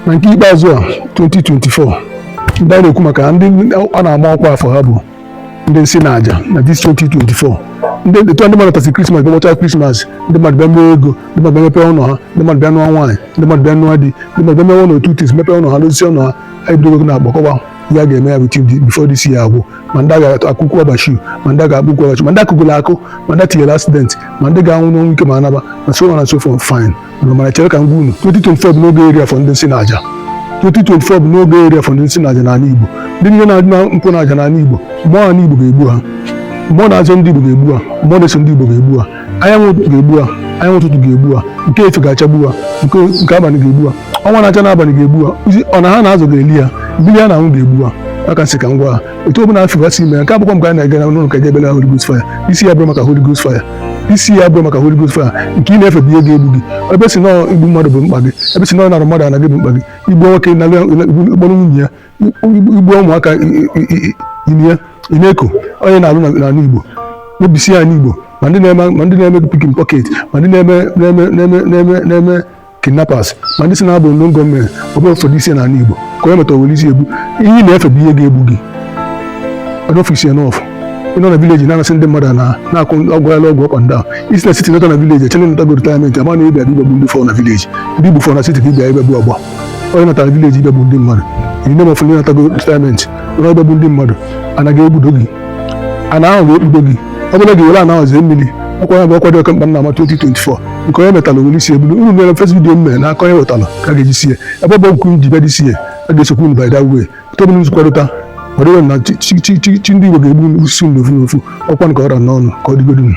na nke ikpeazụ a 2024 ndị a na-ekwu maka ndị a na-ama ọkwa afọ ha bụ ndị nsi na aja na this 2024 ndị etu ndị mmadụ tasị krismas bịa gbachaa krismas ndị mmadụ bịa mee ego ndị mmadụ bịa mepee ụlọ ha ndị mmadụ bịa nụọ nwaanyị ndị mmadụ bịa nụọ di ndị mmadụ bịa mewe a lot of things mepee ụlọ ha dozie ụlọ ha anyị bidogo gị na-agbakọwa ihe a ga-eme ya bụ tim before this year agwụ ma ndị ga-akụkụ ọbachi ma ndị ga-akpụkwu ọbachi ma ndị akụgụla akụ ma ndị tinyere accident ma ndị ga-anwụ n'ọnwụ ike ma anaba and so on and so forth fine mana chere ka m gwa unu 2024 bụ n'oge eri afọ ndị nsi na aja 2024 bụ n'oge eri afọ ndị nsi na aja n'ala Igbo ndị niile na-adị na nkwụ na aja n'ala Igbo mmụọ ala Igbo ga-egbu ha mmụọ na-azọ ndị Igbo ga-egbu ha mmụọ na-eso ndị Igbo ga-egbu ha anyanwụ ụtụtụ ga-egbu ha anyanwụ ụtụtụ ga-egbu ha nke efifie ga-achagbu ha nke nke abalị ga-egbu ha ọnwa na-acha n'abalị ga-egbu ha ana ha na-azọ ga-eli ha mmiri ha na-aṅụ ga-egbu ha ya ka m sị ka m gwa ha otu ọbụla afọ gasị ime nke agbụkwọ mgbe a na-aga n'ụlọ ụka jebele Holy Ghost fire isi ya bụrụ maka Holy Ghost fire isi ya bụrụ maka Holy Ghost fire nke ị na-efe bụ ihe ga-egbu gị ebe ị sị na ọ igbu mmadụ bụ mkpa gị ebe ị sị na ọ ịnarụ mmadụ ana gị bụ mkpa gị igbu nwoke na ịkpọrọ nwunye ya igbu ụmụaka ime ya ị na-eko onye na-alụ n'ala Igbo mebisie ana Igbo ma ndị na-eme ma ndị na-eme picking pocket ma ndị na-eme kidnappers ma ndị sị na ha bụ ndị government ọbụla ụfọdụ isi n'ala Igbo ka onye metara were isi egbu ihe ị na-efe bụ ihe ga-egbu gị enough is enough ị nọ na village na-anasị ndị mmadụ ana na-akụ ọgbaghala ọgwụ ọkpa ndị ahụ i si na city nata na village e chee na ị natago retirement ama na ị bịa ị bịa igbu ndị fọ na village ndị i gbufọ na city ka ị bịa ị bịa igbu ọgba onye natara village ị bịa igbu ndị mmadụ iri na mafụ ndị natago retirement onye ị bịa igbu ndị mmadụ ana ga-ekpudo gị ana ahụ ga-ekpudo gị ọ bụla gị were ana ahụ zee mmiri ọkwa ya bụ ọkwa dị oke mkpa m na-ama 2024 nke onye metala were isi ebulu unu mere first video m mere na aka onye wetala ka a ga-eji sie ebe ọ bụ nkwu ji bịa this year a ga-esokwu unu by that way tebụl nzukọrịta ọdịwe na chi- chi- chi- chi- chi ndị Igbo ga-egbusi unu ofu n'ofu ọkwa nke ọra n'ọnụ ka ọ dịgodu unu